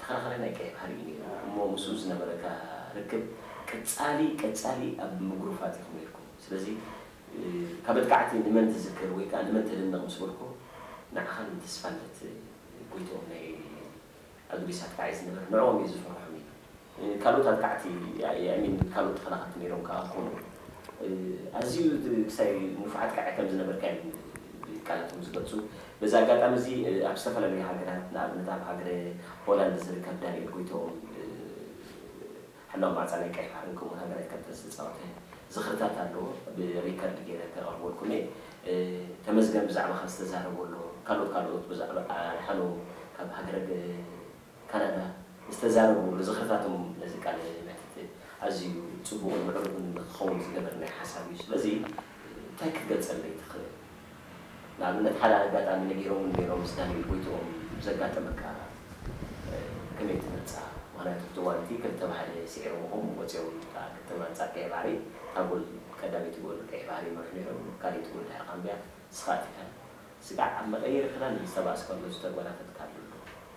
ተኸራኻሪ ናይ ቀይሕ ባሕሪ እዩ ነይሩ እሞ ምስኡ ዝነበረካ ርክብ ቀጻሊ ቀጻሊ ኣብ ምጉርፋጥ ኢኹም ነይርኩም ስለዚ ካብ መጥቃዕቲ ንመን ትዝክር ወይ ከኣ ንመን ተድንቕ ምስ በልኩ ንዓኻን ንተስፋልደት ጎይትኦም ናይ ኣዱሊስ ኣርታዒ ዝነበረ ንዕኦም እየ ዝፈርሖም ኢሉ። ካልኦት ኣጥቃዕቲ የዕሚን ካልኦት ተኸላኸልቲ ነይሮም ከኣ ክኾኑ ኣዝዩ ክሳይ ንፉዕ ኣጥቃዒ ከም ዝነበርካ እዮም ቃላቶም ዝገልጹ። በዚ ኣጋጣሚ እዚ ኣብ ዝተፈላለዩ ሃገራት ንኣብነት ኣብ ሃገረ ሆላንድ ዝርከብ ዳንኤል ጎይትኦም ሕላው ማዕጻ ናይ ቀይሕ ባሕርን ከምኡ'ውን ሃገራዊት ካፒታል ዝተጻወተ ዝኽርታት ኣሎ ብሪከርድ ገይረ ከቕርበልኩም እየ። ተመስገን ብዛዕባኻ ዝተዛረቦ ኣሎ ካልኦት ካልኦት ብዛዕባ ኣድሓኖም ካብ ሃገረ ካናዳ ዝተዛረቡ ርዝኸታቶም ነዚ ቃለ መሕትት ኣዝዩ ጽቡቕን ምዕሩግን ንኽኸውን ዝገበር ናይ ሓሳብ እዩ። ስለዚ እንታይ ክትገልጸለይ ትኽእል? ንኣብነት ሓደ ኣጋጣሚ ነጊሮምን ነይሮም ምስ ዳንኤል ጎይትኦም ዘጋጠመካ ከመይ ትገልጻ? ምኽንያቱ እቲ እዋን እቲ ክልተ ባሕሪ ስዒሮምኹም ወጺኦም እታ ክልተ ኣንጻር ቀይሕ ባሕሪ እታ ጎል ቀዳመይቲ ጎል ቀይሕ ባሕሪ ይመርሑ ነይሮም ካልኣይቲ ጎል ድሕሪ ካምብያ ንስኻ ኣቲካላ ስጋዕ ኣብ መቐየሪ ክዳን ዝተባእስካሉ ዝተጓናፈትካሉ ኣሎ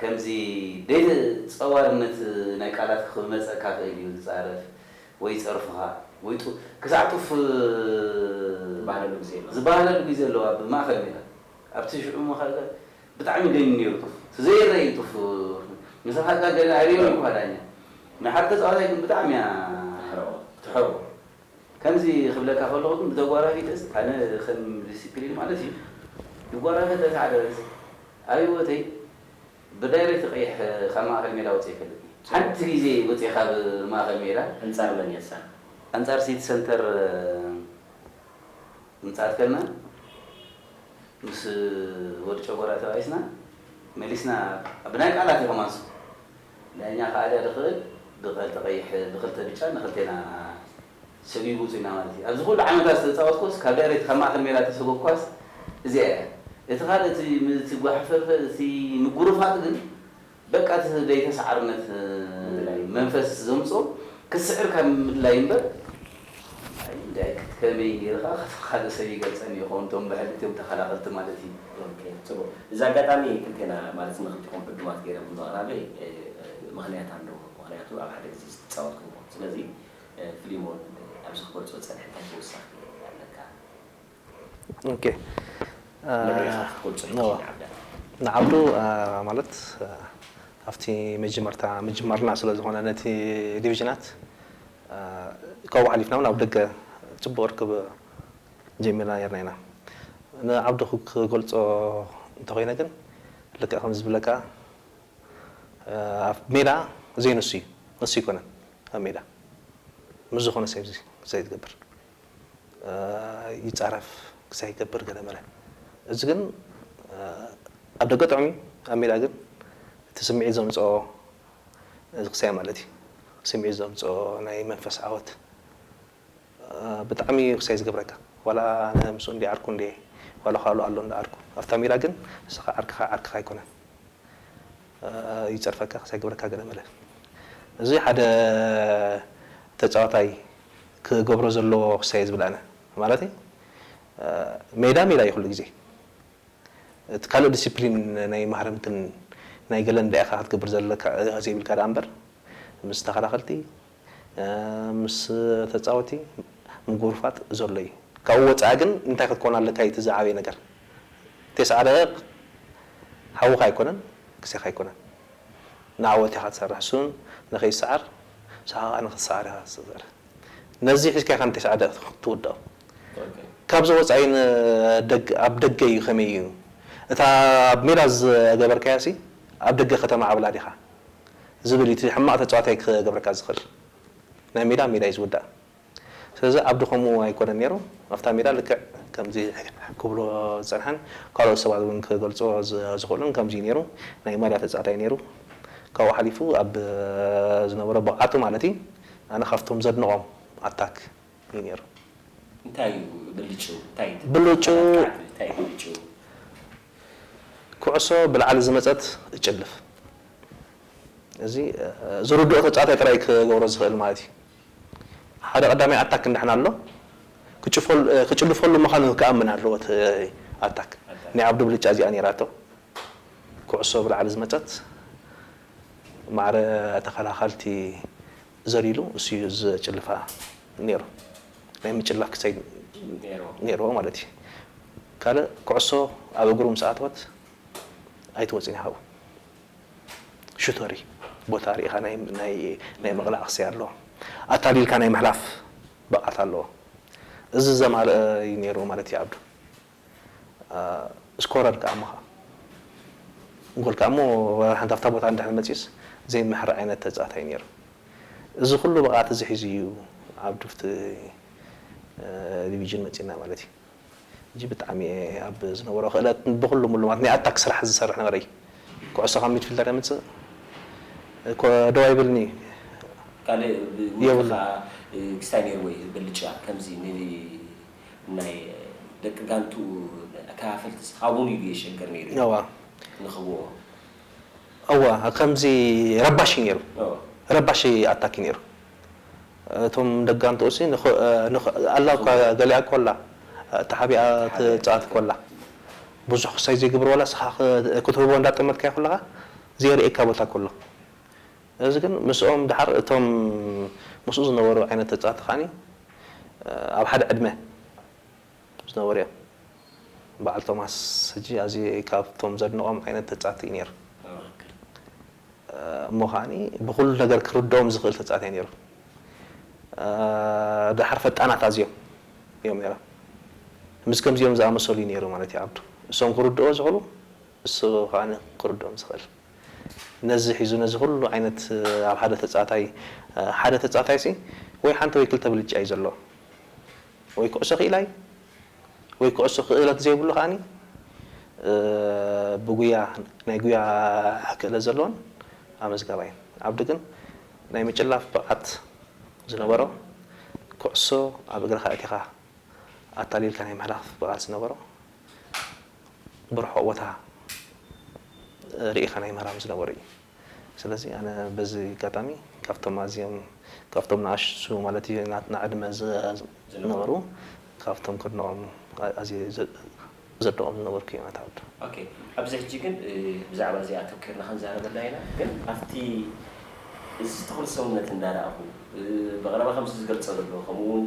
ከምዚ ቤት ጸዋርነት ናይ ቃላት ክመጸካ ክእል እዩ ዝጻረፍ ወይ ይጸርፉኻ ወይ ጡፍ ክሳዕ ጡፍ ዝባሃለሉ ግዜ ኣሎ ዝባሃለሉ ግዜ ኣሎ ኣብ ማእከል ሜዳ ኣብቲ ሽዑ መኸተ ብጣዕሚ ገንዩ ኔሩ ጡፍ እቲ ዘይረኣ እዩ ጡፍ ምሳኻ ገለ ኣይርኤን እዩኳ ዳኛ ናይ ሓደ ተጻዋታይ ግን ብጣዕሚ እያ ትሕረኦ ትሕረኦ። ከምዚ ክብለካ ከለኩ ግን ብተጓራቢተስ ኣነ ከም ዲሲፕሊን ማለት እዩ ንጓራቢተ ተተዓዳደልስ ኣብ ሂወተይ ብዳይሬክት ቀይሕ ካብ ማእከል ሜዳ ወጺኤ ኣይፈልጥን እየ ሓንቲ ግዜ ወጺኤ ካብ ማእከል ሜዳ ኣንጻር መን እያ እሳ? ኣንጻር ሲቲ ሰንተር ምጽኣት ከልና ምስ ወዲ ጨጎራ ተባኢስና መሊስና ብናይ ቃላት እዩ ከማንስ ዳኛ ክኣ ድኣ ድክእል ብከልተ ቀይሕ ብክልተ ብጫ ንክልቴና ሰቢቡ ውጹና ማለት ኢዩ ኣብዚ ኩሉ ዓመታት ዝተጻወትኩስ ካብ ድሕሪት ካብ ማእከል ሜዳ እተሰጎግ ኳስ እዚኣ ኢያ እቲ ካልእ እቲ እቲ ጓሕፈርፈ እቲ ምጉርፋጥ ግን በቃ እቲ ዘይተሳዓርነት መንፈስ ዘምጾ ክትስዕር ካብ ምድላይ እምበር ኣይ እንድዒ ክትከመይ ጌረ ከኣ ከፍ ካልእ ሰብ ይገልጸኒ ይኸውን እቶም ብሕልት እዮም ተኸላኸልቲ ማለት እዪ። ኦኬ ጽቡቅ እዚ ኣጋጣሚ ክልቴና ማለት ንክልቲኩም ዕዱማት ጌረ ብምቅራበይ ምክንያት ኣለዎ ምክንያቱ ኣብ ሓደ ግዜ ዝተጻወትኩሞ ስለዚ ፍሊሞን ኣብዚ ክገልጾ ዝጸንሐ እንታይ ተወሳኪ ኣለካ? መን ኢኻ ክትገልጾ ኢኻ ንዓብዱ? ንዓብዱ ማለት ኣብቲ መጀመርታ ምጅማርና ስለ ዝኾነ ነቲ ዲቪዥናት ካብኡ ሓሊፍና እውን ኣብ ደገ ጽቡቕ ርክብ ጀሚርና ኔርና ኢና። ንዓብዱ ክገልጾ እንተ ኾይነ ግን ልክዕ ከምዚ ዝብለካ ኣብ ሜዳ ዘይንሱ እዩ ንሱ ኣይኮነን ኣብ ሜዳ ምስ ዝኾነ ሰብ እዩ ዘይትገብር። ይጻረፍ ክሳይ ይገብር ገለ መለ እዚ ግን ኣብ ደገ ጥዑም እዩ ኣብ ሜዳ ግን እቲ ስምዒት ዘምጽኦ እዚ ክሳይ ማለት እዩ ስምዒት ዘምጽኦ ናይ መንፈስ ዓወት ብጣዕሚ እዩ ክሳይ ዝገብረካ ዋላ ኣነ ምስኡ እንድየ ዓርኩ እንድየ ዋላ ካሉ ኣሎ እንዳ ዓርኩ ኣብታ ሜዳ ግን ንስኻ ዓርክኻ ዓርክኻ ኣይኮነን ይጸርፈካ ክሳይ ግብረካ ገለ መለ እዚ ሓደ ተጻዋታይ ክገብሮ ዘለዎ ክሳየ ዝብል ኣነ ማለተይ ሜዳ ሜዳ እዩ ኩሉ ግዜ እቲ ካልእ ዲሲፕሊን ናይ ማህረምትን ናይ ገለን ድኣ ኢካ ክትገብር ዘለካ ኢካ ዘይብልካ ድኣ እምበር ምስ ተከላከልቲ ምስ ተጻወቲ ምጉርፋጥ ዘሎ እዩ ካብኡ ወጻኢ ግን እንታይ ክትኮን ኣለካ እዩ እቲ ዝዓበየ ነገር ቴስዓ ደቂቅ ሓውካ ኣይኮነን ግዜካ ኣይኮነን ንዓወት ኢካ ትሰርሕ እሱ ውን ንከይስዓር ንስካ ከኣ ንክትስዓር ኢካ ትሰርሕ ነዚ ሒዝካ ኢካ ንቴስዓ ደቂቅ ትውድኦ ካብዚ ወጻኢ ን ደገ ኣብ ደገ እዩ ከመይ እዩ እታ ኣብ ሜዳ ዝገበርካያ ሲ ኣብ ደገ ከተማዕብላ ዲካ። ዝብል እዩ እቲ ሕማቅ ተጻዋታይ ክገብረካ ዝክእል ናይ ሜዳ ኣብ ሜዳ እዩ ዝውዳእ ስለዚ ኣብዲ ከምኡ ኣይኮነን ኔሩ ኣብታ ሜዳ ልክዕ ከምዚ ክብሎ ዝጸንሐን ካልኦት ሰባት ውን ክገልጽዎ ዝክእሉን ከምዚ እዩ ኔሩ ናይ ማልያ ተጻዋታይ ኔሩ ካብኡ ሓሊፉ ኣብ ዝነበሮ ብቅዓቱ ማለት እዩ ኣነ ካብቶም ዘድንቆም ኣታክ እዩ ነይሩ። እንታይ እዩ ብልጭው? እንታይ ትብል? ብልጭው! ኣካዕ ትብል፣ እንታይ እዩ ብልጭው? ኩዕሶ ብላዕሊ ዝመጸት እጭልፍ። እዚ ዝርድኦ ተጻዋታይ ጥራይ ክገብሮ ዝኽእል ማለት እዩ። ሓደ ቀዳማይ ኣታክ ንሕና ኣሎ፣ ክጭፈሉ ክጭልፈሉ ምዃኑ ክኣምን ኣለዎ እቲ ኣታክ። ናይ ኣብዱ ብልጫ እዚኣ ነይራቶ። ኩዕሶ ብላዕሊ ዝመጸት ማዕረ ተኸላኸልቲ ዘሊሉ ንሱ እዩ ዘጭልፋ ኔሩ ናይ ምጭላፍ ክሰይድ ኔርዎ ማለት እዩ ካልእ ኩዕሶ ኣብ እግሩ ምስ ኣተወት ኣይትወጽን ኢያ ካብኡ ሹተር እዩ ቦታ ሪኢኻ ናይ ምቕላዕ ክሰይ ኣለዎ ኣታሊልካ ናይ ምሕላፍ ብቕዓት ኣለዎ እዚ ዘማልኣ እዩ ኔሩ ማለት እዩ ዓብዱ። ስኮረር ከኣ እሞ ከኣ ጎል ከኣ እሞ ሓንቲ ኣብታ ቦታ እንድሕር መጺኡስ ዘይምሕር ዓይነት ተጻዋታይ እዩ ኔሩ። እዚ ኩሉ ብቕዓት እዚ ሒዙ እዩ ኣብ ድፍቲ ዲቪጅን መጺኡና ማለት እዩ። ሕጂ ብጣዕሚ እየ ኣብ ዝነበሮ ክእለት ብኹሉ ምሉ ማለት ናይ ኣታክ ስራሕ ዝሰርሕ ነበረ እዩ። ኩዕሶ ካብ ሚድፊልደር የምጽእ ኮ ደው ኣይብልን እዩ። ካልእ ብውልቂ ከኣ ክስታይ ኔርዎ እዩ ብልጫ ከምዚ ን ናይ ደቂ ጋንትኡ ኣካፋፈልቲ ስሓቡን ኢሉ የሸግር ነይሩ እዩ እዋ ንክብዎ እዋ ከምዚ ረባሺ ነይሩ እዎ ረባሺ ኣታኪ ነይሩ እቶም ደቂ ጋንትኡሲ ንክ ንክ ኣላ እኳ ጽቡቅ ገሊኣ እኮ ኣላ ተሓቢኣ ተሓቢኣ ትጻወት እኮ ኣላ ትጻወት ብዙሕ ክሳይ ዘይግብርዎ ኣላ ንስኻ ክትህቦ እንዳጠመትካዮ ከለኻ ዘየርእየካ ቦታ እኮ ኣሎ እዚ ግን ምስኦም ድሓር እቶም ምስኡ ዝነበሩ ዓይነት ተጻወቲ ከኣ ኣብ ሓደ ዕድመ ዝነበሩ እዮም። በዓል ቶማስ ሕጂ ኣዝየ ካብቶም ዘድንቖም ዓይነት ተጻወቲ እዩ ነይሩ። እሞ ከኣ ብኹሉ ነገር ክርድኦም ዝኽእል ተጻወቲ እዩ ነይሩ። ድሓር ፈጣናት ኣዝዮም እዮም ነይሮም። ምስ ከምዚኦም ዝኣመሰሉ እዩ ነይሩ ማለት እዩ ዓብዱ። እሶም ክርድኦ ዝኽእሉ እሱ ከኣ ክርድኦም ዝኽእል። ነዚ ሒዙ ነዚ ኩሉ ዓይነት ኣብ ሓደ ተጻታይ ሓደ ተጻታይሲ ወይ ሓንቲ ወይ ክልተ ብልጫ እዩ ዘለዎ ወይ ኩዕሶ ክኢላ እዩ ወይ ኩዕሶ ክእለት ዘይብሉ ከኣ ብጉያ ናይ ጉያ ክእለት ዘለዎን ኣመዝጋባይ እዩ ኣብዲ ግን ናይ ምጭላፍ ብቅዓት ዝነበሮ ኩዕሶ ኣብ እግርኻ ኣእቲኻ ኣታሊልካ ናይ ምሕላፍ ብቅዓት ዝነበሮ ብርሑቅ ቦታ ሪኢካ ናይ ምህራም ዝነበሮ እዩ ስለዚ ኣነ በዚ ኣጋጣሚ ካብቶም ኣዝዮም ካብቶም ንኣሽቱ ማለት እዩ ናትና ዕድመ ዝነበሩ ካብቶም ከድንቆም ኣዝየ ዘድንቆም ዝነበርኩ እዩ ኣቶ ዓብዱ። ኦኬ ኣብዚ ሕጂ ግን ብዛዕባ እዚ ኣተኪርና ክንዛረበላ ኢና ግን ኣብቲ እዚ ተኽሊ ሰውነት እንዳረኣኹ፣ ብቐረባ ከምዚ ዝገልጾ ዘሎ፣ ከምኡ'ውን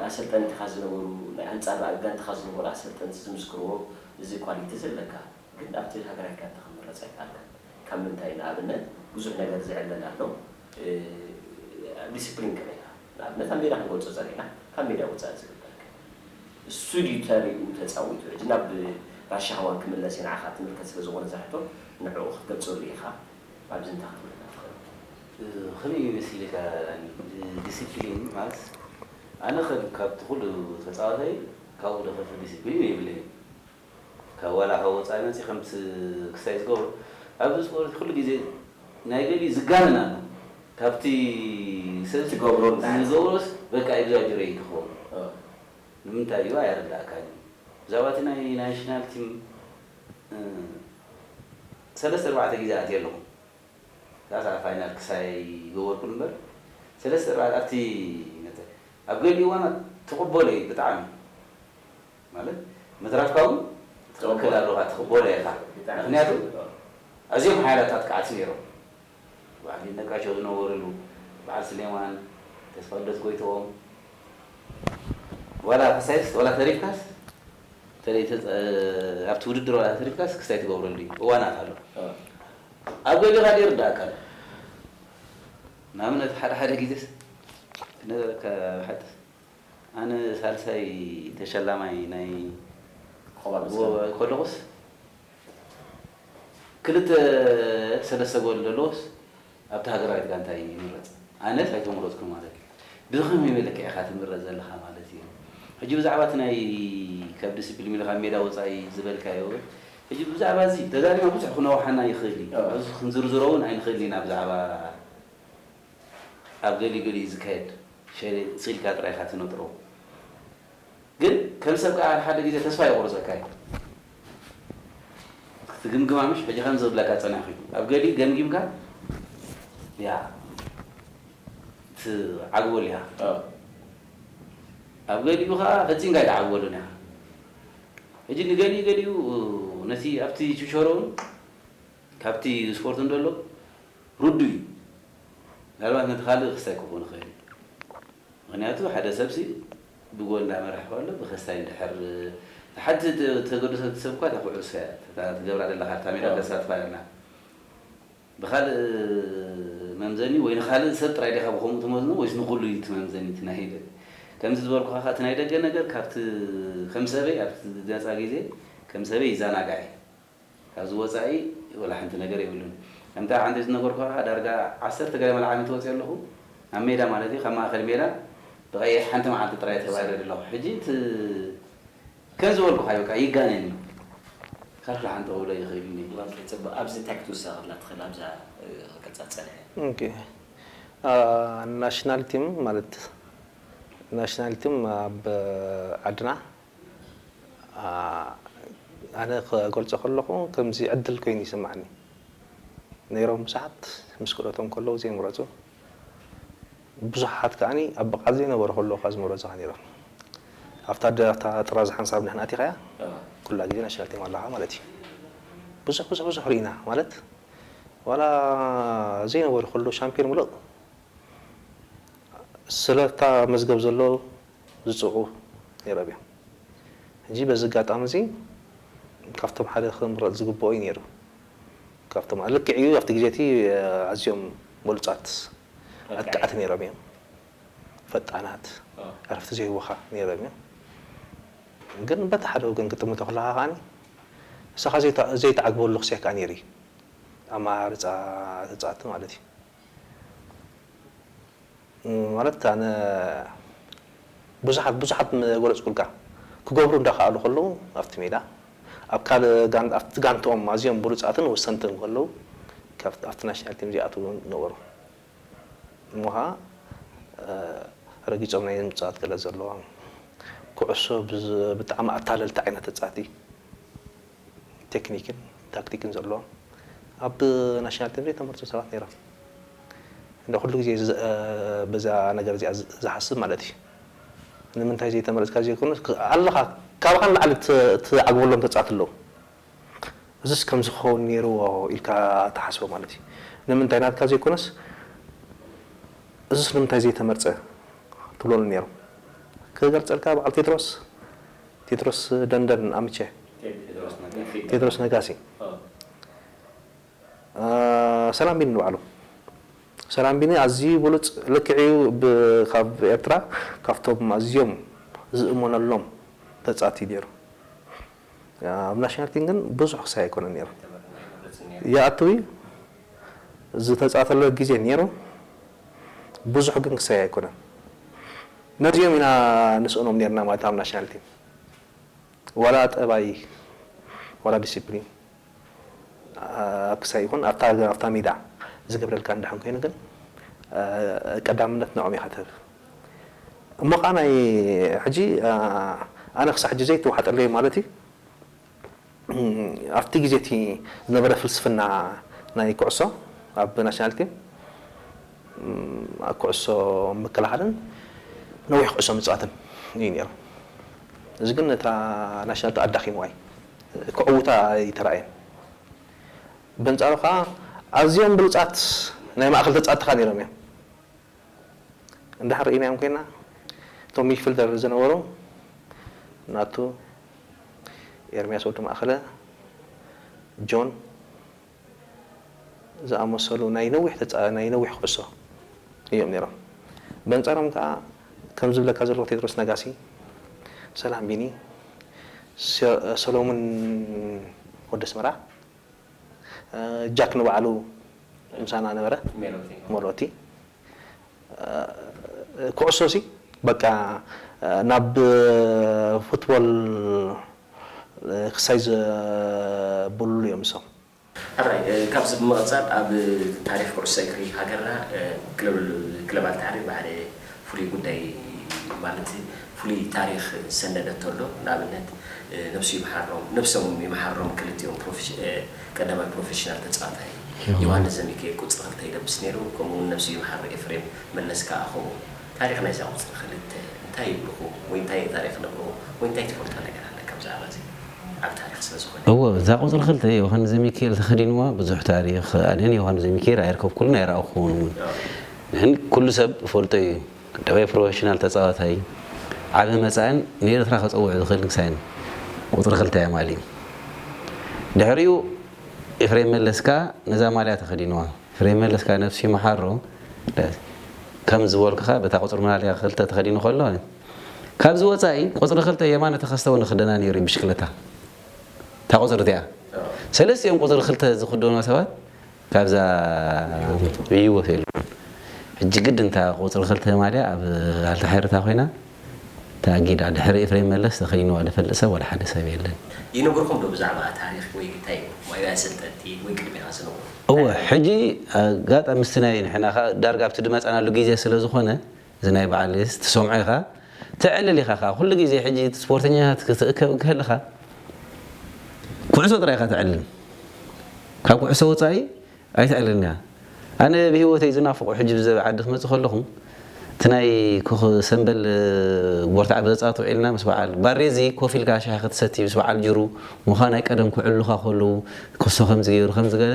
ኣሰልጠንትኻ ዝነበሩ፣ ናይ ኣንጻር ራእግ ጋንታኻ ዝነበሩ ኣሰልጠንቲ ዝምስክርዎ፣ እዚ ኳሊቲ እዚ ኣለካ፣ ግን ኣብቲ ሃገራዊት ጋንታ ክትምረጽ ኣይከኣልካን። ካብ ምንታይ? ንኣብነት ብዙሕ ነገር ዝዕለል ኣሎ፣ ዲሲፕሊን ከመይ ኢኻ፣ ንኣብነት ኣብ ሜዳ ክንገልጾ ጸኒሕና፣ ካብ ሜዳ ወጻኢ ዝግበር ከ? እሱ ድዩ ተርኡ ተጻዊቱ? ሕጂ ናብ ራሻ ኸዋን ክምለስ'የ፣ ንዓኻ ትምልከት ስለ ዝኾነ እዛ ሕቶ ንዕኡ ክትገልጸሉ ኢኻ። ኣብዚ እንታይ ክትብለና ትኽእል? ከመይ መሲልካ ዲሲፕሊን ማለት ኣነ ከም ካብቲ ኩሉ ተጻዋታይ ካብኡ ዝኸፍእ ዲሲፕሊን የብለይን ካብ ዋላ ካብ ወጻኢ መጺ ከምቲ ክስታይ ዝገብሮ ኣብዚ ስፖርት ኩሉ ግዜ ናይ ገሊኡ ዝጋነን ኣሎ ካብቲ ሰብ ዝገብሮ ንዝገብሮስ በቃ ኤግዛጀረይት ይኸውን ንምንታይ እዩ ኣይርደኣካን እዩ ብዛዕባ እቲ ናይ ናሽናል ቲም ሰለስተ ኣርባዕተ ግዜ ኣትየ ኣለኹ ክኣ ክኣ ፋይናል ክሳይ ኣይገበርኩን እምበር ሰለስተ ኣርባዕተ ኣብቲ ነተ ኣብ ገሊኡ እዋናት ትቕበሎ እዩ ብጣዕሚ ማለት ምትራፍካ ውን ትኽክል ኣሎኻ ትኽበሎ ኢኻ ምኽንያቱ ኣዝዮም ሓያላት ኣጥቃዕቲ ኔሮም በዓል ይድነቃቸው ዝነበርሉ በዓል ስሌማን ተስፋልደት ጎይትኦም ዋላ ክሳይስ ዋላ ተሪፍካስ በተለይ ኣብቲ ውድድር ዋላ እንተተሪፍካ ስክስ ኣይትገብረሉ እዩ እዋናት ኣሎ ኣብ ገሊኻ ዘይርድኣካ ኣሎ ንኣብነት ሓደ ሓደ ግዜስ ክነገረካ ብሓቂ ኣነ ሳልሳይ ተሸላማይ ናይ ከለኹስ ክልተ ሰለስተ ጎል ዘለዎስ ኣብታ ሃገራዊት ጋንታ ኢዩ ይምረጽ ኣነስ ኣይተመረጽኩን ማለት ኢዩ ብከመይ መለክዒ ኢካ ትምረጽ ዘለካ ማለት ኢዩ ሕጂ ብዛዕባ እቲ ናይ ካብ ዲሲፕሊም ኢሉ ካብ ሜዳ ወጻኢ ዝበልካዮ ግን ሕጂ ብዛዕባ እዚ ተዛሪብና ብዙሕ ክነውሓና ይክእል ኢዩ ኣብዚ ክንዝርዝሮ ውን ኣይንክእልን ኢና ብዛዕባ ኣብ ገሊኡ ገሊኡ ዝካየድ ሸል ኢልካ ጥራይ ኢካ ትነጥሮ። ግን ከም ሰብ ከኣ ሓሓደ ግዜ ተስፋ የቑርጸካ እዩ ክትግምግማ ምሽ ሕጂ ከምዚ ክብለካ ጸኒሕኩ ኣብ ገሊኡ ገምጊምካ እያ ትዓግበሉ ኢኻ ኣብ ገሊኡ ከኣ ፈጺምካ ኣይትዓግበሉን ኢኻ ሕጂ ንገሊኡ ገሊኡ ነቲ ኣብቲ ቹቸሮውን ካብቲ ስፖርትን ደሎ ርዱእ እዩ ምናልባት ነቲ ካልእ ክስታይ ክኾን ይኽእል እዩ ምኽንያቱ ሓደ ሰብሲ ብጎል እንዳመረሐ ከሎ ብከሳይ እንድሕር ሓንቲ ተገዶ ሰብ ትሰብ እኳ እታ ኩዑሶ እያ እታ ትገብራ ደለካ ኣብታ ሜዳ ተሳትፋ ኣለና ብካልእ መምዘኒ ወይ ንካልእ ሰብ ጥራይ ዲካ ብከምኡ ትመዝኖ ወይስ ንኩሉ እዩ እቲ መምዘኒ እቲ ናይ ደገ ከምዚ ዝበልኩካ ከኣ እቲ ናይ ደገ ነገር ካብቲ ከም ሰበይ ኣብቲ ነጻ ግዜ ከም ሰበይ ይዛናጋዕ እየ ካብዚ ወጻኢ ወላ ሓንቲ ነገር የብሉን። ከምቲ ኣብ ዓንዴል ዝነበርኩኻ ዳርጋ ዓሰርተ ገለ መልዓል እንተወጺኤ ኣለኹ፣ ናብ ሜዳ ማለት እዩ፣ ካብ ማእከል ሜዳ ብቐይሕ ሓንቲ መዓልቲ ጥራይ እየ ተባሪረ ኣለኹ። ሕጂ እቲ ከምዚ ዝበልኩኻ እዩ በቃ ይጋነን እዩ። ካልኩ ደሓን ጠውሎ ይኽእልኒ። ዋልተ ጽቡቅ ኣብዚ እንታይ ክትውሰኸላ ትኽእል ኣብዛ ክቅጻ ዝጸንሐ። ኦኬ ናሽናል ቲም ማለት ናሽናል ቲም ኣብ ዓድና ኣነ ክገልጾ ከለኹ ከምዚ ዕድል ኮይኑ ይስማዓኒ ነይሮም ብዙሓት ምስ ክእለቶም ከለዉ ዘይምረጹ ብዙሓት ከኣ ኣብ ብቕዓት ዘይነበሩ ከለዉ ከኣ ዝመረጹኻ ነይሮም ኣብታ ኣብታ ጥራዝ ሓንሳብ ንሕና ኣቲኻያ ኩላ ግዜ ናሽናል ቲም ኣለኻ ማለት እዩ ብዙሕ ብዙሕ ብዙሕ ርኢና ማለት ዋላ ዘይነበሩ ከለዉ ሻምፒዮን ምሉእ ስለታ መዝገብ ዘሎ ዝጽዑ ነይሮም እዮም። ሕጂ በዚ ኣጋጣሚ'ዚ ካብቶም ሓደ ክምረጽ ዝግብኦ እዩ ነይሩ። ካብቶም ኣብ ልክዕ እዩ ኣብቲ ግዜ'ቲ ኣዝዮም በሉጻት ኣጥቃዕቲ ነይሮም እዮም። ፈጣናት ዕረፍቲ ዘይህቡኻ ነይሮም እዮም። ግን በቲ ሓደ ወገን ክትጥምቶ ከለኻ ከኣ ንስኻ ዘይትዓግበሉ ክሳይ ከኣ ነይሩ እዩ። ኣመራርጻ ተጻወትቲ ማለት እዩ። ማለት ኣነ ብዙሓት ብዙሓት ምገለጽኩልካ ክገብሩ እንዳኸኣሉ ከለዉ ኣብቲ ሜዳ ኣብ ካልእ ኣብቲ ጋንትኦም ኣዝዮም ብሉጻትን ወሰንትን ከለዉ ካብ ኣብቲ ናሽናል ቲም ዚኣትዉ ውን ነበሩ እሞ ከኣ ረጊጾም ናይ ምጽኣት ክእለት ዘለዎም ኩዕሶ ብጣዕሚ ኣታለልቲ ዓይነት ተጻቲ ቴክኒክን ታክቲክን ዘለዎም ኣብ ናሽናል ቲም ዘይተመርጹ ሰባት ነይሮም። እንዶ ኩሉ ግዜ በዛ ነገር እዚኣ ዝሓስብ ማለት እዩ። ንምንታይ ዘይተመረጽካ ዘይኮነስ ኣለኻ ካባኻ ንላዕሊ ትዓግበሎም ተጻወትቲ ኣለዉ። እዚስ ከምዚ ክኸውን ነይርዎ ኢልካ ትሓስቦ ማለት እዩ። ንምንታይ ናትካ ዘይኮነስ እዚስ ንምንታይ ዘይተመርጸ ትብለሉ ነይሮም። ክገልጸልካ በዓል ቴድሮስ ቴድሮስ ደንደን ኣምቸ ቴድሮስ ነጋሲ ሰላም ቢኒ ንባዕሉ ሰላም ቢኒ ኣዝዩ ብሉጽ ልክዕ እዩ ካብ ኤርትራ ካብቶም ኣዝዮም ዝእመነሎም በጻቲ ነይሩ ኣብ ናሽናል ቲም ግን ብዙሕ ክሳይ ኣይኮነን ነይሩ ይኣትው እዩ ዝተጻተሎ ግዜ ኔሩ ብዙሕ ግን ክሳይ ኣይኮነን ነዚኦም ኢና ንስእኖም ኔርና ማለት ኣብ ናሽናል ቲም ዋላ ጠባይ ዋላ ዲሲፕሊን ኣብ ክሳይ ይኹን ኣብታ ሜዳ ዝገብረልካ እንድሕን ኮይኑ ግን ቀዳምነት ንዕኦም ኢኻ ትህብ እሞ ከኣ ናይ ሕጂ ኣነ ክሳብ ሕጂ ዘይተዋሕጠለይ ማለት እዩ ኣብቲ ግዜ እቲ ዝነበረ ፍልስፍና ናይ ኩዕሶ ኣብ ናሽናል ቲም ኩዕሶ ምክልኻልን ነዊሕ ኩዕሶ ምፅዋትን እዩ ነይሩ። እዚ ግን ነታ ናሽናል ቲም ኣዳኺምዋ እዩ። ከዕውታ ኣይተራእየን። በንፃሩ ከዓ ኣዝዮም ብሉፃት ናይ ማእኸል ተፃወትቲ ከዓ ነይሮም እዮም። እንድሕር ርኢናዮም ኮይና እቶም ሚክፍል ደርቢ ዝነበሩ ናቱ፣ ኤርምያስ ወዲ ማእከለ፣ ጆን ዝኣመሰሉ ናይ ነዊሕ ተጻ ናይ ነዊሕ ኩዕሶ እዮም ነይሮም። በንጻሮም ከኣ ከም ዝብለካ ዘለኹ ቴድሮስ ነጋሲ፣ ሰላም ቢኒ፣ ሰ ሰሎሙን ወዲ ኣስመራ፣ ጃክ ንባዕሉ ምሳና ነበረ ሜሎቲ ኩዕሶሲ በቃ ናብ ፉትቦል ክሳይ ዘብሉ እዮም ንሶም። ሕራይ ካብዚ ብምቕጻል ኣብ ታሪኽ ኩዕሶ እግሪ ሃገርና ክለባት ተዓርዩ ብሓደ ፍሉይ ጉዳይ ማለት ፍሉይ ታሪኽ ዝሰነደቶ ኣሎ ንኣብነት ነብሱ ይምሓሮም ነብሶም ይምሓሮም ክልቲኦም ቀዳማይ ፕሮፌሽናል ተጻዋታይ ዮውሃንስ ዘሚካኤል ቁጽሪ ክልተ ይለብስ ኔሩ ከምኡ ውን ነብሱ ይምሓር ኤፍሬም መለስ ከኣ ከምኡ ታሪኽ ናይዛ ቁጽሪ ክልተ እንታይ ይብልኹም ወይ እንታይ ታሪኽ ንብልኹም ወይ እንታይ ትፈልጦ ነገር ኣለካ ብዛዕባ እዚ ዓቢ ታሪኽ ስለ ዝኾነ። እወ እዛ ቁጽሪ ክልተ ዮውሃንስ ዘሚካኤል ተኸዲንዋ ብዙሕ ታሪኽ ኣነ ንዮውሃንስ ዘሚካኤል ኣየርከብኩሉን ኣይረኣኹዎን ውን። ግን ኩሉ ሰብ ዝፈልጦ ኢዩ ደባይ ፕሮፈሽናል ተጻዋታይ ዓቢ መጻእን ንኤርትራ ከጸውዕ ዝኽእል ንግሳይን ቁጽሪ ክልተ የማል ኢዩ ድሕሪኡ ኤፍሬም መለስ ከኣ ነዛ ማልያ ተኸዲንዋ ኤፍሬም መለስ ከኣ ነብሱ ይምሓሮ ከም ዝበልኩኻ በታ ቁጽሪ ማልያ ክልተ ተኸዲኑ ከሎ ካብዚ ወጻኢ ቁጽሪ ክልተ የማነ ተኸስተ ውን ክደና ነይሩ ኢዩ ብሽክለታ እታ ቁጽሪ እቲኣ ሰለስቲኦም ቁጽሪ ክልተ ዝኽደኑ ሰባት ካብዛ ዒይዎ ቴልፎን ሕጂ ግድን እታ ቁጽሪ ክልተ ማልያ ኣብ ኣልታ ሐርታ ኮይና ተኣጊዳ ድሕሪ ኤፍሬም መለስ ተከይንዋ ድፈልጥ ሰብ ዋላ ሐደ ሰብ የለን። ይንግርኩም ዶ ብዛዕባ ታሪክ ወይ ግታይ ወይ ናይ ስልጠቲ ወይ ቅድሜካ ዝነበሩ። እወ ሕጂ ኣጋጣሚ ምስቲ ናይ ንሕና ከኣ ዳርጋ ኣብቲ ድመጻናሉ ጊዜ ስለ ዝኮነ እዚ ናይ በዓል ኢስ ትሰምዖ ኢኻ ተዕልል ኢኻ ከኣ ኩሉ ግዜ ሕጂ እቲ ስፖርተኛታት ክትእከብ እንከለኻ ኩዕሶ ጥራይ ኢኻ ተዕልል ካብ ኩዕሶ ወጻኢ ኣይተዕልልን ኢኻ ኣነ ብሂወተይ ዝናፍቆ ሕጂ ብዘበ ዓዲ ክመጽእ ከለኹ እቲ ናይ ኮኽ ሰምበል ቦርታዕ ብዘጻት ውዒልና ምስ በዓል ባሬዚ ኮፍ ኢልካ ሻሂ ክትሰቲ ምስ በዓል ጅሩ ምዃን ኣይቀደምኩ ዕሉኻ ከለዉ ኩሶ ከምዚ ገይሩ ከምዚ ገለ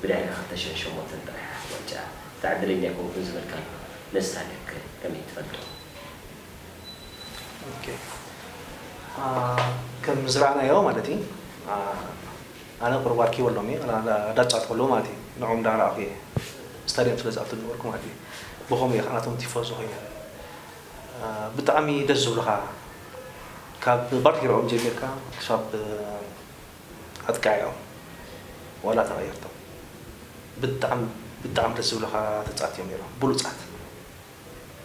ብድሕሪ ክልተ ሽሕ ሸሞንተን ጥራሕ ኣፍ ዋንጫ ብጣዕሚ ዕድለኛ ኣይኮንኩን ዝበልካሉ ንስካ ከ ከመይ ትፈልጦ? ኦኬ ከም ዝረኣናዮ ማለት እዪ ኣነ ቁሩብ ኣርኪቦ ኣሎም እየ ኣዳጫት ከለዉ ማለት እዪ ንዕኦም እንዳረኣኩ እየ ስታድየም ስለ ዝኣቱ ዝነበርኩ ማለት እዪ ብከምኡ እየ ከኣ ናቶም ቲፎዞ ኮይነ ብጣዕሚ ደስ ዝብሉካ ካብ ባርቲርኦም ጀሚርካ ክሳብ ኣጥቃዒኦም ዋላ ተቀየርቶም ብጣዕሚ ብጣዕሚ ደስ ዝብሉኻ ተጻት እዮም ኔሮም ብሉጻት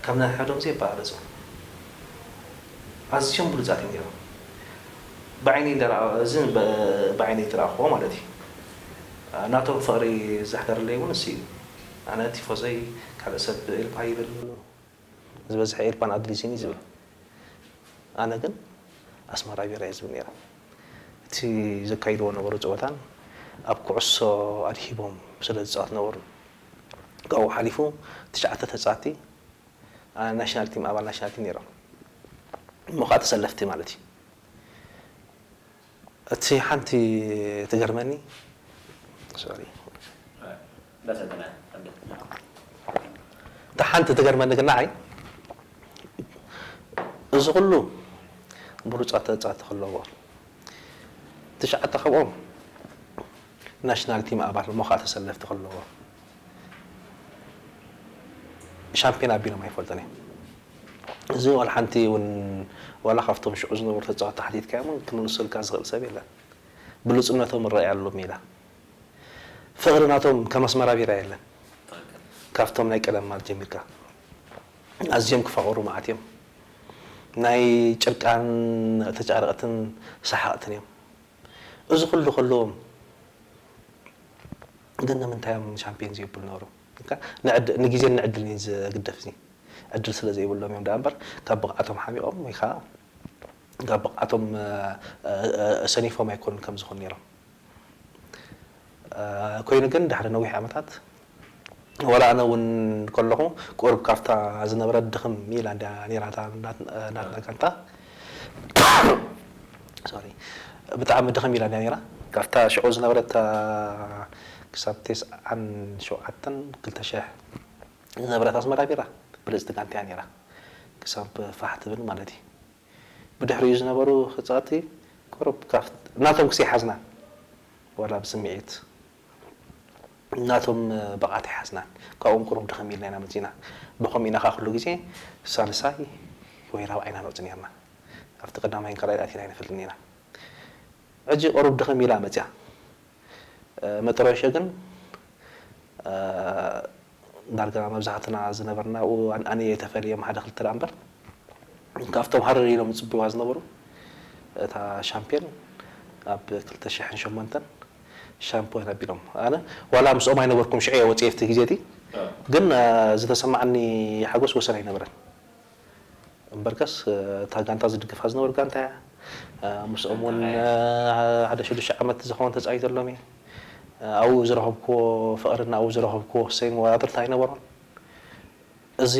ካብ ናይ ሐዶም ዘይበላለጹ ኣዝዮም ብሉጻት እዮም ኔሮም ብዓይነይ እንዳረኣኩ እዚ ብዓይነይ ዝረኣኩዎ ማለት እዩ ናቶም ፍቅሪ ዝሕደረለይ ውን ንሱ እዩ ኣነ ቲፎዞይ ካልእ ሰብ ኢልኳ ይብል ዝበዝሐ ኤርፓን ኣድሊስን እዩ ዝብል ኣነ ግን ኣስመራ ቢራ እየ ዝብል ነይረ እቲ ዘካይድዎ ዝነበሩ ጸወታን ኣብ ኩዕሶ ኣድሂቦም ስለ ዝጻወት ዝነበሩ ካብኡ ሓሊፉ ትሽዓተ ተጻወቲ ናሽናል ቲም ኣባል ናሽናል ቲም ነይሮም እሞ ከኣ ተሰለፍቲ ማለት እዩ እቲ ሓንቲ ትገርመኒ ሶሪ እታ ሓንቲ ትገርመኒ ግን ንዓይ እዚ ኩሉ ብሉጻት ተጻወቲ ክለዉዎ ትሽዓተ ካብኦም ናሽናል ቲም ኣባል እሞ ከኣ ተሰለፍቲ ክለዎ ሻምፕዮን ኣቢሎም ኣይፈልጡን እዮም እዚ ዋላ ሓንቲ ውን ዋላ ካብቶም ሽዑ ዝነበሩ ተጻወቲ ሓቲትካዮም ውን ክምልሰልካ ዝኽእል ሰብ የለን ብሉጽነቶም እረኣየሉ ሜዳ ፍቕሪ ናቶም ከም ኣስመራ ቢራ የለን ካብቶም ናይ ቀደም ማል ጀሚርካ ኣዝዮም ክፋቕሩ መዓት እዮም ናይ ጭርቃን ተጫረቕትን ሰሓቕትን እዮም እዚ ኩሉ ከለዎም ግን ንምንታይ እዮም ሻምፕዮን ዘይብሉ ነበሩ? ንዕድ ንግዜን ንዕድልን እዩ ዘግደፍ እዚ ዕድል ስለ ዘይብሎም እዮም ደኣ እምበር ካብ ብቕዓቶም ሓሚቖም ወይ ከኣ ካብ ብቕዓቶም ሰኒፎም ኣይኮኑን ከምዚ ክኾኑ ነይሮም። ኮይኑ ግን ድሕሪ ነዊሕ ዓመታት ወላ ኣነ ውን ከለኹ ቁሩብ ካብታ ዝነበረት ድኽም ኢላ ድያ ኔራ እታ ናትና ጋንታ ሶሪ ብጣዕሚ ድኽም ኢላ ድያ ኔራ ካብታ ሽዑ ዝነበረት እታ ክሳብ ተስዓን ሸውዓተን ክልተ ሽሕ ዝነበረት ኣስመራ ቢራ ብልጽቲ ጋንታ እያ ኔራ ክሳብ ፋሕ ትብል ማለት እዩ ብድሕሪኡ ዝነበሩ ክጻወቲ ቁሩብ ናቶም ክሰይሓዝና ወላ ብስሚዒት ናቶም ብቕዓት ኣይሓዝናን ካብኦም ቁሩብ ድኽም ኢልና ኢና መጺእና ብኸምኡ ኢና ከኣ ኩሉ ግዜ ሳልሳይ ወይ ራብዓይ ኢና ንወጽእ ኔርና ኣብቲ ቀዳማይን ካልኣይን ኣቲና ኣይንፈልጥን ኢና ሕጂ ቁሩብ ድኽም ኢላ መጺኣ መጥረሾ ግን ዳርጋ መብዛሕትና ዝነበርና ኣብኡ ኣንኣንየ ኣይተፈልየም ሓደ ክልተ ደኣ እምበር ካብቶም ሃረር ኢሎም ዝጽብይዋ ዝነበሩ እታ ሻምፕዮን ኣብ ክልተ ሽሕን ሸሞንተን ሻምፕዮን ኣቢሎም ኣነ ዋላ ምስኦም ኣይነበርኩን ሽዑ እየ ወጺኤ ኣብቲ ግዜ እቲ ግን ዝተሰማዓኒ ሓጎስ ወሰን ኣይነበረን። እምበርከስ እታ ጋንታ ዝድግፋ ዝነበሩ ጋንታ እያ። ምስኦም እውን ሓደ ሽዱሽተ ዓመት ዝኸውን ተፃዊተሎም እየ። ኣብኡ ዝረኸብክዎ ፍቕሪን ኣብኡ ዝረኸብክዎ ህሰይን መወዳድርቲ ኣይነበሮን። እዚ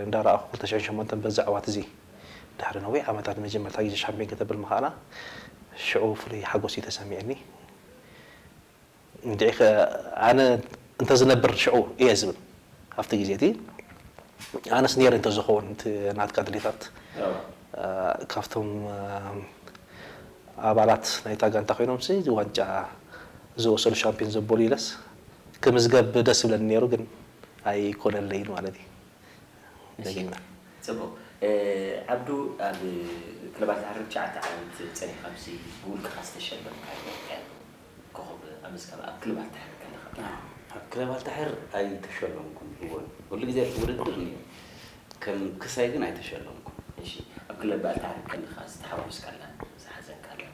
እንዳረኣኹ ክልተ ሽሕን ሸሞንተን በዚ ዓወት እዚ ድሕሪ ነዊሕ ዓመታት ንመጀመርታ ግዜ ሻምፒዮን ከተብል ምኽኣላ ሽዑ ፍሉይ ሓጎስ እዩ ተሰሚዑኒ። እንድዒኸ ኣነ እንተ ዝነብር ሽዑ እየ ዝብል ኣብቲ ግዜ እቲ ኣነስ ነይረ እንተ ዝኸውን እቲ ናትካ ድሌታት ካብቶም ኣባላት ናይታ ጋንታ ኮይኖምሲ ዋንጫ ዝወሰዱ ሻምፒዮን ዘበሉ ኢለስ ክምዝገብ ደስ ይብለኒ ነይሩ ግን ኣይኮነለይን ማለት እዩ። ደጊመ። ጽቡቕ። ዓብዱ ኣብ ክለባት ሃረር ትሽዓተ ዓመት ጸኒሕካ ምስዚ ብውልቅኻ ዝተሸለምካዮ ኤርቦ ኮኾብ ኣመዝጋቢ ኣብ ክለብ ኣልታሕር ከለኻ ጥራሕ። ኣብ ክለብ ኣልታሕር ኣይተሸለምኩን እወን ኩሉ ግዜ ኣብቲ ውድድር ነይረ ከም ክሳይ ግን ኣይተሸለምኩን። እሺ ኣብ ክለብ ኣልታሕር ከለኻ ዝተሓጎስካላን ዝሓዘንካላን?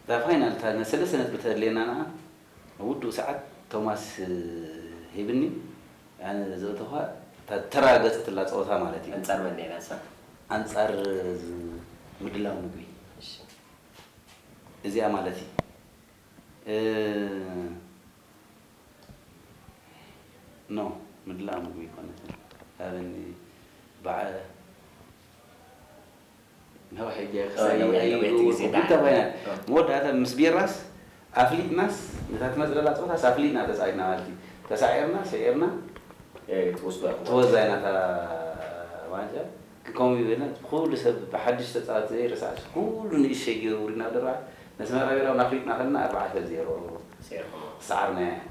እታ ፋይናል እታ ሰለስተ ነጥቢ ተድልየና ንዓ ኣብ ውዱእ ሰዓት ቶማስ ሂብኒ ኣነ ዘእተኹዋ እታ ዝተራገጸትላ ጸወታ ማለት እዩ። ኣንጻር መን ነይራ እሳ? ኣንጻር ምድላው ምግቢ እሺ። እዚኣ ማለት እዩ። ኖ ምድላው ምግቢ ኣይኮነትን ሃበኒ በዓ። ነዊሕ ግዜ ክሳብ መወዳእታ ምስ ቢራስ ኣፍሊጥናስ ነታ ትመጽለላ ጸወታስ ኣፍሊጥና ተጻዊትና ማለት እዩ ተሳዒርና ስዒርና ትወስዶ ኢና እታ ዋንጫ ግን ከምኡ ይበልና ኩሉ ሰብ ብሓድሽ ተጻወቲ ዘይርሳዕስ ኩሉ ንእሽተይ ጌሩ ውሪድና ድራር ነስመራ ቢራ ውን ኣፍሊጥና ከለና ኣርባዕተ ዜሮ ዝሰዓርናያ እያ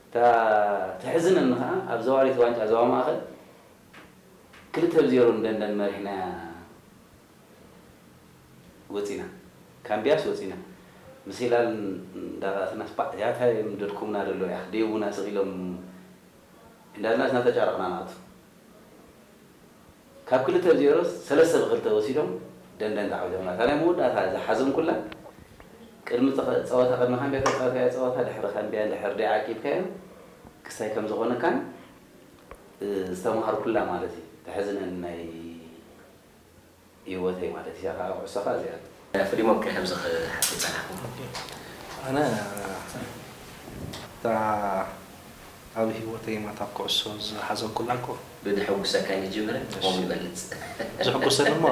እታ ተሕዝነኒ ከኣ ኣብ ዘዋሪት ዋንጫ ዞባ ማእከል ክልተ ብ ዜሮ ን ደንደን መሪሕናያ ወጺና ካምብያስ ወጺና ምስ ሂላል እንዳራኣሰናስ ባእ እዚኣ ታይ እዮም ደድኩምና ደለው ያኽ ዴቭ ውን ኣስቅ ኢሎም እንዳልናስ እናተጫረቅና ንኣቱ ካብ ክልተ ብ ዜሮ ሰለስተ ብ ክልተ ወሲዶም ደንደን ተዓዊቶምና እታ ናይ መወዳእታ ዝሓዘንኩላ ቅድሚ ጸወታ ቅድሚ ካምብያ ተጻዊትካዮ ጸወታ ድሕሪ ካምብያ እንድሕር ደይ ዓቂብካዮ ክስታይ ከምዝኮነካን ዝተማሃርኩላ ማለት እዩ ተሕዝነኒ ናይ ሂወተይ ማለት እዩ እዚኣ ካኣ ኩዕሶ ካኣ እዚኣ እዩ። ፍሉይ መብቅዒ ከምዚ ክሓትት ዝጸናሕኩ ኣነ እታ ኣብ ሂወተይ ማታ ኩዕሶ ዝሓዘኩላ እኮ። ብድሕጉሰካ ንጅምር ትርጉሙ ይበልጽ። ዝሕጉሰኒ እሞ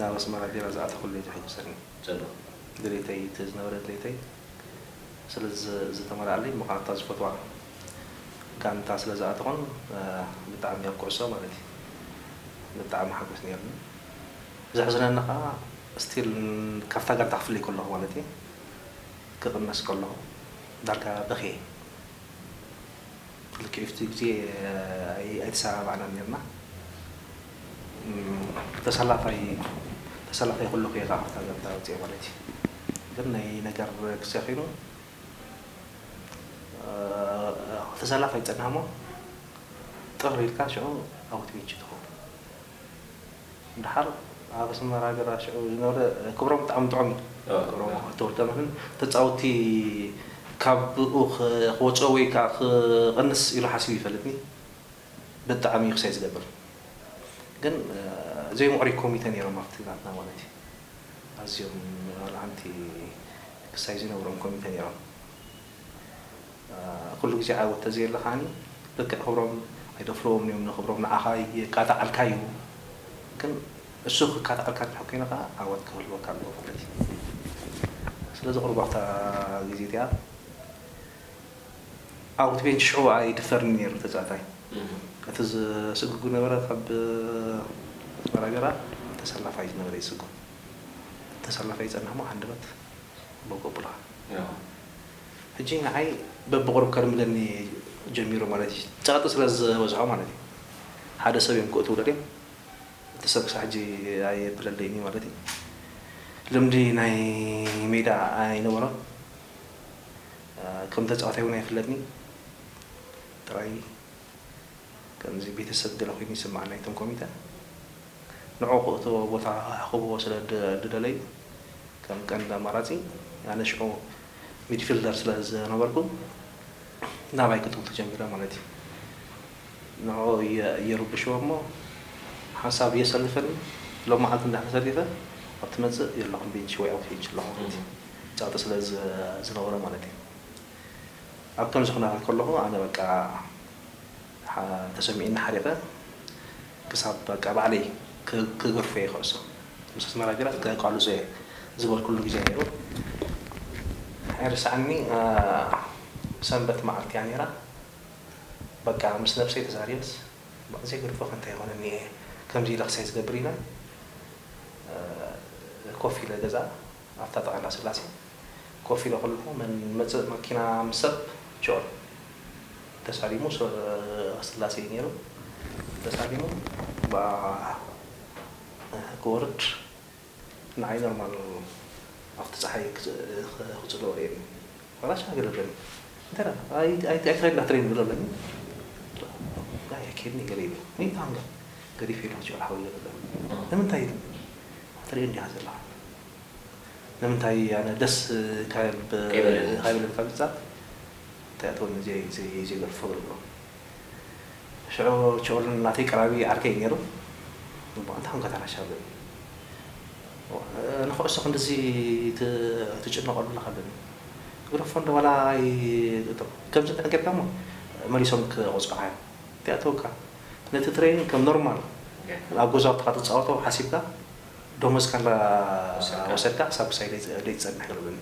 ናብ ኣስመራ ቢራ ዝኣተኹሉ እዩ ዝሕጉሰኒ። ጽቡቕ። ድሌተይ እቲ ዝነበረ ድሌተይ ስለ ዝተመልኣለይ ምኽንያቱ እታ ዝፈትዋ ጋንታ ስለ ዝኣተኹን ብጣዕሚ ኣብ ኩዕሶ ማለት እዩ ብጣዕሚ ሓጎስ ነይሩኒ ዘሕዝነኒ ከኣ ስቲል ካብታ ጋንታ ክፍለይ ከለኹ ማለት እዩ ክቕነስ ከለኹ ዳርጋ በኽየ ልክዕቲ ግዜ ኣይተሰማማዕናን ነርና ተሰላፋይ ተሰላፋይ ከለኹ እየ ከኣ ካብታ ጋንታ ወጺኤ ማለት እዩ ግን ናይ ነገር ግዜ ኮይኑ ተሰላፍ ኣይጸናሕሞ ጥር ኢልካ ሽዑ ኣውት ቤች ትኸውን ድሓር ኣብ ኣስመራ ገራ ሽዑ ዝነበረ ክብሮም ብጣዕሚ ጥዑም እዩ ክብሮም ተወልደመንን ተጻውቲ ካብኡ ክወጽኦ ወይ ከዓ ክቕንስ ኢሉ ሓሲቡ ይፈልጥኒ ብጣዕሚ እዩ ክሳይ ዝገብር ግን ዘይ ሙዕሪይ ኮሚተ ነይሮም ኣብቲ ናትና ማለት እዩ ኣዝዮም ኣልዓንቲ ክሳይ ዘይነብሮም ኮሚተ ነይሮም ኩሉ ግዜ ዓወት ተዘየለ ከዓኒ ልክዕ ክብሮም ኣይደፍርዎምን እዮም ንክብሮም ንዓኻ የቃጣዓልካ እዩ ግን እሱ ክቃጣዓልካ እንድሕር ኮይኑ ከኣ ዓወት ክህልወካ ኣለዎ ማለት እዩ ስለዚ ቁሩብ ኣብታ ግዜ እቲኣ ዓወት ቤንቺ ሽዑ ኣይድፈርን እዩ ነይሩ ተጻዋታይ። እቲ ዝስጉግ ዝነበረ ካብ ኣስመራ ገራ ተሰላፋይ እዩ ዝነበረ ይስጉግ። እቲ ተሰላፋይ ይጸንሕ እሞ ሃንደበት ቦግ ኣብሉኻ። ሕጂ ንዓይ በብቑሩብ ከልምደኒ ጀሚሩ ማለት እዩ። ጸቕጢ ስለ ዝበዝሖ ማለት እዩ። ሓደ ሰብ እዮም ክእትዉለ ድዮም እቲ ሰብ ክሳዕ ሕጂ ኣየብለለይን እዩ ማለት እዩ። ልምዲ ናይ ሜዳ ኣይነበሮን። ከም ተጻዋታይ ውን ኣይፍለጥን ጥራይ ከምዚ ቤተሰብ ገለ ኮይኑ ይስምዓኒ ኣይቶም ኮሚተ ንዑ ክእትዎ ቦታ ክህብዎ ስለ ድደለዩ ከም ቀንዲ ኣማራጺ ኣነ ሽዑ ሚድፊልደር ስለ ዝነበርኩ ናባይ ክጥምቱ ጀሚሮም ማለት እዩ። ንዕኡ የርብሽዎ እሞ ሓንሳብ የሰልፈኒ ሎምዓልቲ እንድሕር ተሰሊፈ ኣብ ትመጽእ የለኹን ቢንች ወይ ኣውት ቢንች ኣለኹ ማለት እዩ ጸቕጢ ስለ ዝነበሮ ማለት እዩ ኣብ ከምዚ ኩነታት ከለኹ ኣነ በቃ ተሰሚዑኒ ሓሪቐ ክሳብ በቃ ባዕለይ ክገርፎ እየ ኩዕሶ ምስ ኣስመራ ቢራ ከቃልሶ እየ ዝበልኩሉ ግዜ ነይሩ ኣይርሳዓኒ ሰንበት መዓልቲ እያ ነይራ በቃ ምስ ነብሰይ ተዛሪበስ በቃ ዘይገድፎከ እንታይ ይኮን እኒኤ ከምዚ ኢለ ክሳይ ዝገብር ኢለ ኮፍ ኢለ ገዛ ኣብታ ጥቃ እንዳስላሴ ኮፍ ኢለ ከለኩ መን መፅእ መኪና ምስ ሰብ ጆን ተሳሊሙ ስላሴ እዩ ነይሩ ተሳሊሙ በኣ ክወርድ ንዓይ ኖርማል ነው ኣብቲ ጸሓይ ክጽልኦ ርእየኒ ዋላ ሻሂ ገለ ብለኒ እንታይ ደኣ ኣይትኸይድ ላትሪን ብሎ ኣለኒ ኣይ ኣይከይድን እየ ገለ ይብል ወይ ፓንጋ ገዲፈ ኢለ ክጽዕር ሓወይ ገለ ብለኒ ንምንታይ ኢሉ ትርእዮ እንዲኻ ዘለኻ ንምንታይ ኣነ ደስ ካብ ኣይበለኒ ካብ ዝጻር እንታይ ኣተወኒ ዘይዘይ ዘይገርፎ ገለ ብሎ ሽዑ ቸውል ናተይ ቀራቢ ዓርከይ እዩ ነይሩ። እሞ እንታይ ኰንካ ታናሽ ኣለኒ። ንዅዕሶ ክንድዚ ትጭነቐሉ ኣለኻ ኣለኒ። ግሮፎንዶ ዋላ ኣይእቶ ከምዚ እንድሕር ጌርካ'ሞ መሊሶም ክቐጽዑኻ እዮም። እንተይኣተወካ ነቲ ትሬኒንግ ከም ኖርማል ኣብ ገዛውትኻ ትጻወቶ ሓሲብካ ደሞዝካ እንዳ ወሰድካ ክሳብ ምሳይ ደይትጸንሕ በለኒ።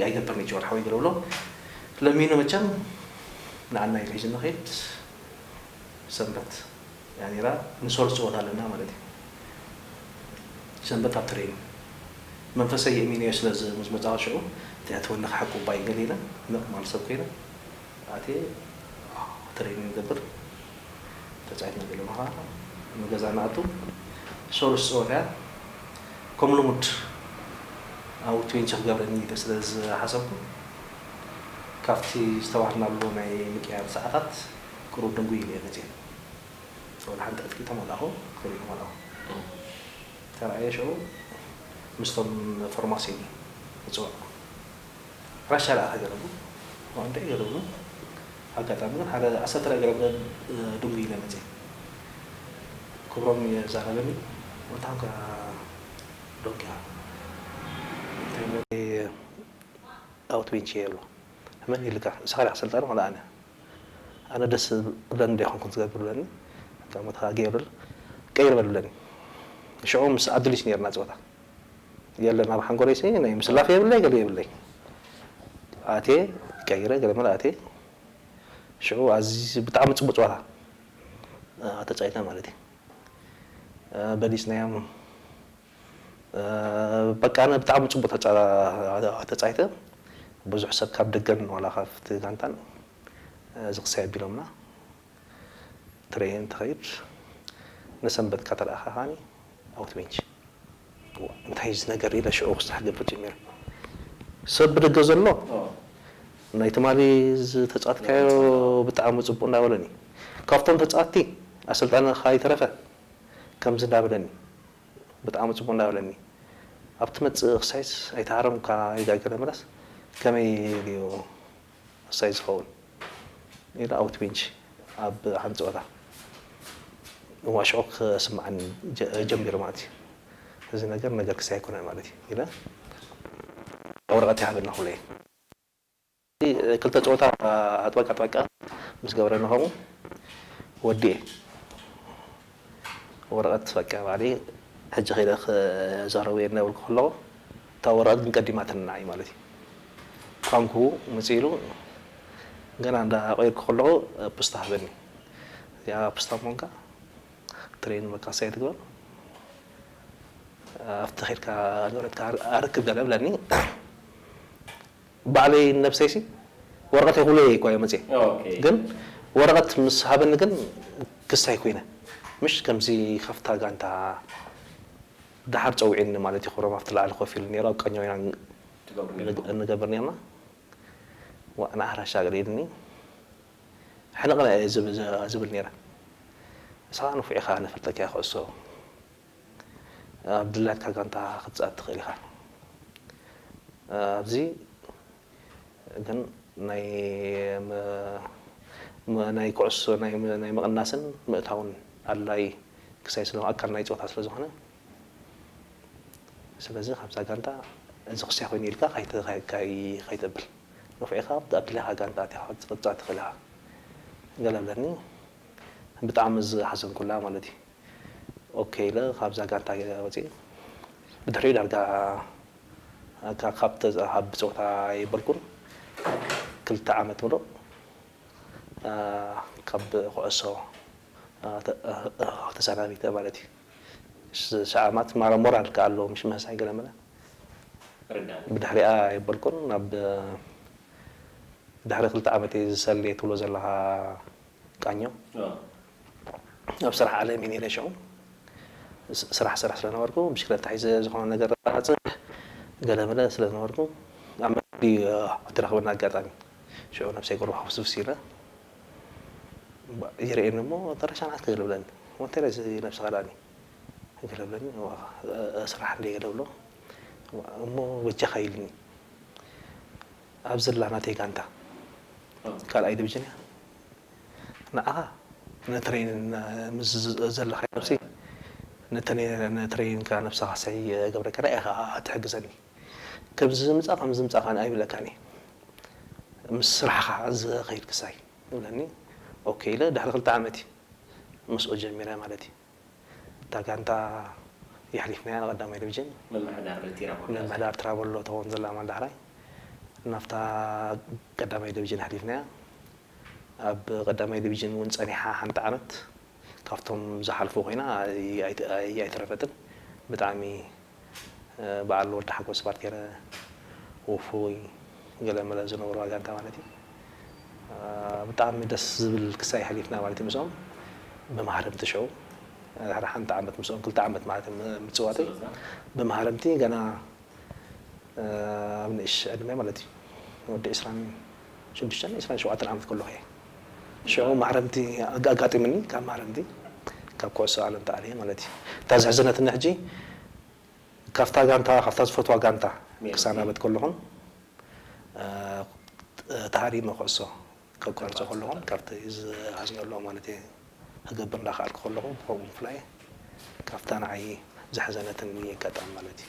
ኣይገብርን ጆን ሓወይ ገለ ብሎ ለሚኑ መቸም ንዓና ኢሉ ሒዙና ከይድ ሰንበት እያ ነይራ ንሶል ፀወታ ኣለና ማለት እዩ ሰንበት ኣብ ትሬኒንግ መንፈሰይ የእሚነዮ ስለ ዝመፃወት ሽዑ ትሕትወኒ ክሓቁ ባይ ገለ ኢለ ምቕማል ሰብ ኮይነ ኣትየ ትሬኒንግ ይገብር ተጻዊትና ዘለና ከኣ ንገዛ ንኣቱ ሰሉስ ጸወታ እያ ከም ልሙድ ኣብ ትዌንቸ ክገብረኒ ኢለ ስለ ዝሓሰብኩ ካብቲ ዝተዋህብናሉ ናይ ምቅያር ሰዓታት ቅሩብ ድንጉይ ኢለ እየ መጽየ ወላ ሓንቲ ዕጥቂ ተመላኹ ክልተ ተመላኹ ተራእየ ሽዑ ምስቶም ፎርማሲን ተጸዋዕኩ ራሻ ደኣ እንታይ ገረሉ ዋእ እንታይ ገረሉ ኣጋጣሚ ግን ሓደ ዓሰርተ ናይ ገረብ እለን ድንጉይ ኢለ መጽየ ክብሮም ኢየ ዛረበኒ ኣንታ ኮንካ ዶንቅያ እንታይ እሞ ኣይ ኣውት ቤንቺ ኢየ ኢሉ መን ኢልካ ንስካ ዲካ ኣሰልጣኒ ዋላ ኣነ ኣነ ደስ ክብለኒ ዶ ኣይኮንኩን ዝገብር ኢለኒ ኣንታ እሞ ተጋግየ በል ቀይር በል ኢለኒ ሽዑ ምስ ኣዱሊስ ኔርና ጸወታ የለን ኣብ ሓንጎለይሲ ናይ ምስላፍ የብለይ ገለ የብለይ ኣትየ ቀይረ ገለ መለ ኣትየ ሽዑ ኣዚ ብጣዕሚ ጽቡቅ ጸወታ ተጻዊትና ማለት እዩ በሊጽናዮም በቃ ኣነ ብጣዕሚ ጽቡቅ ተጻዊተ ብዙሕ ሰብ ካብ ደገን ዋላ ካብቲ ጋንታን እዚ ክሳይ ኣቢሎምና ትሬ እንትኸይድ ንሰንበት እካ ተረኣኻኻኒ ኣውት ቤንች እንታይ እዩ እዚ ነገር ኢለ ሽዑ ክስራሕ ክገብር ጀሚረ ሰብ ብደገ ዘሎ ናይ ትማሊ ዝተጻትካዮ ብጣዕሚ ጽቡቅ እንዳበለኒ ካብቶም ተጻቲ ኣሰልጣኒ ካይተረፈ ከምዚ እንዳበለኒ ብጣዕሚ ጽቡቅ እንዳበለኒ ኣብ ትመጽእ ክሳይስ ኣይተሃረምካ ይጋገለ መለስ ከመይ ኢሉ እዩ ወሳኝ ዝኸውን ሜላ ኣውት ቤንች ኣብ ሓንቲ ፀወታ ንዋሽዖ ክስምዓኒ ጀሚሩ ማለት እዩ። እዚ ነገር ነገር ክሳይ ኣይኮነን ማለት እዩ ኢለ ኣብ ወረቐት ይሃበና ክብሎ እየ። ክልተ ፀወታ ኣጥበቃ ኣጥበቃ ምስ ገብረና ከምኡ ወዲኤ ወረቀት በቃ ባዕለይ ሕጂ ከይደ ክዛረቦ'የ እናበልኩ ከለኹ እታ ወረቀት ግን ቀዲማትኒ ንዓይ ማለት እዩ። ፓንኩ ምጽእ ኢሉ ገና እንዳ ቀየርኩ ከለኹ ፕስታ ሃበኒ። እዚኣ ፕስታ ምዃንካ ትሬን መካሰይ ኣይትግበር ኣብቲ ከድካ ንብረትካ ኣረክብ ገለ በለኒ። ባዕለይ ንነብሰይሲ ወረቀት ኣይኩለይ እኳ እየ መፅየ ግን ወረቀት ምስ ሃበኒ ግን ክስ ኣይኮይነ ምሽ ከምዚ ከፍታ ጋንታ ዳሓር ፀዊዕኒ ማለት እዩ ክብሮም ኣብቲ ላዕሊ ኮፍ ኢሉ ነይሩ ኣብ ቀኛው ኢና እንገብር ነይርና ዋእ ንዓራ ኣሻግር ኢልኒ ሕንቅንቅ እየ ዝብል ነይረ ንስካ ንፉዕ ኢካ ነፈልጠካ እየ ኩዕሶ ኣብ ድላትካ ጋንታ ክትጻት ትክእል ኢካ ኣብዚ ግን ናይ ናይ ኩዕሶ ናይ ምቅናስን ምእታውን ኣድላይ ክሳይ ስለ ኣካል ናይ ጸወታ ስለ ዝኮነ ስለዚ ካብዛ ጋንታ እዚ ክሳይ ኮይኑ ኢልካ ከይተብል ነፍዕካ ኣብ ድላካ ጋንታ ኣቲካ ክትጻት ትክእል ኢካ ገለ ኣለኒ ብጣዕሚ ዝሓዘንኩላ ማለት እዩ። ኦኬ ኢለ ካብዛ ጋንታ ወጺኤ ብድሕሪኡ ዳርጋ እካ ካብ ተዝኣሃብ ብጸወታ ኣይበልኩን ክልተ ዓመት ምሉእ ካብ ኩዕሶ ተሳናቢተ ማለት እዩ ሻኣማት ማራ ሞራል ከኣ ኣለዎ ምሽ ምህሳይ ገለመለ ብድሕሪኣ ኣይበልኩን ናብ ድሕሪ ክልተ ዓመት ዝሰልየ ትብሎ ዘለኻ ቃኘው ኣብ ስራሕ ዓለም እየ ነይረ ሽዑ ስራሕ እሰርሕ ስለነበርኩ ብሽክለታ ሒዘ ዝኾነ ነገር ኣባፅሕ ገለመለ ስለዝነበርኩ ኣብ መንገዲ እተረኽበኒ ኣጋጣሚ ሽዑ ነብሰይ ቁሩብ ሕፍስፍስ ኢለ ይርእየኒ እሞ ተረሻናት ገለ ብለኒ ወንታይ ነዚ ነብስኻ ዳኒ ገለ ብለኒ ስራሕ እንደ ገለ ብሎ እሞ በጃኻ ኢሉኒ ኣብ ዘላ ናተይ ጋንታ ካልኣይ ድብጅን እያ ንዓኻ ንትረይን ምስ ዘለኻዮ ነብሲ ንትረይንካ ነብስኻ ሰይ ገብረካ ንኣይ ኢኻ ትሕግዘኒ ከምዚ ዝምጻ ከምዚ ዝምጻ ካን ኣይብለካን እየ ምስ ስራሕኻ ዝኸይድ ክሳይ ይብለኒ ኦኬ ኢለ ድሕሪ ክልተ ዓመት እዩ ምስኡ ጀሚረ ማለት እዩ እታ ጋንታ የሕሊፍናያ ንቀዳማይ ድብጅን ምምሕዳር ትራቦሎ ትኸውን ዘላ ኣማን ዳሕራይ ናብታ ቀዳማይ ድብጅን ኣሕሊፍናያ ኣብ ቀዳማይ ድብጅን እውን ፀኒሓ ሓንቲ ዓመት ካብቶም ዝሓልፉ ኮይና ኣይተረፈትን ብጣዕሚ በዓል ወዲ ሓጎስ ባርቴረ ውፉይ ገለ መለ ዝነበርዋ ጋንታ ማለት እዩ ብጣዕሚ ደስ ዝብል ክሳይ ሐሊፍና ማለት እዩ ምስኦም ብመሃረምቲ ሸው ድሕሪ ሓንቲ ዓመት ምስኦም ክልተ ዓመት ማለት ምጽዋተይ ብመሃረምቲ ገና ኣብ ንእሽ ዕድመ ማለት እዩ ወዲ ዕስራን ሽዱሽተን ዕስራን ሸውዓተን ዓመት ከለኹ እየ። ሽዑ ማዕረምቲ ኣጋጢምኒ፣ ካብ ማዕረምቲ ካብ ኩዕሶ ዓለም ተኣልየ ማለት እዩ። እታ ዘሕዘነትኒ ሕጂ ካብታ ጋንታ ካብታ ዝፈትዋ ጋንታ ክሳናበት ከለኹን ተሃሪመ ኩዕሶ ከቋርጾ ከለኹን ካብቲ ዝኣዝነሉ ማለት እየ ክገብር እንዳኸኣልኩ ከለኹ ብኸምኡ ምፍላይ ካብታ ንዓይ ዘሕዘነትኒ ኣጋጣሚ ማለት እዩ።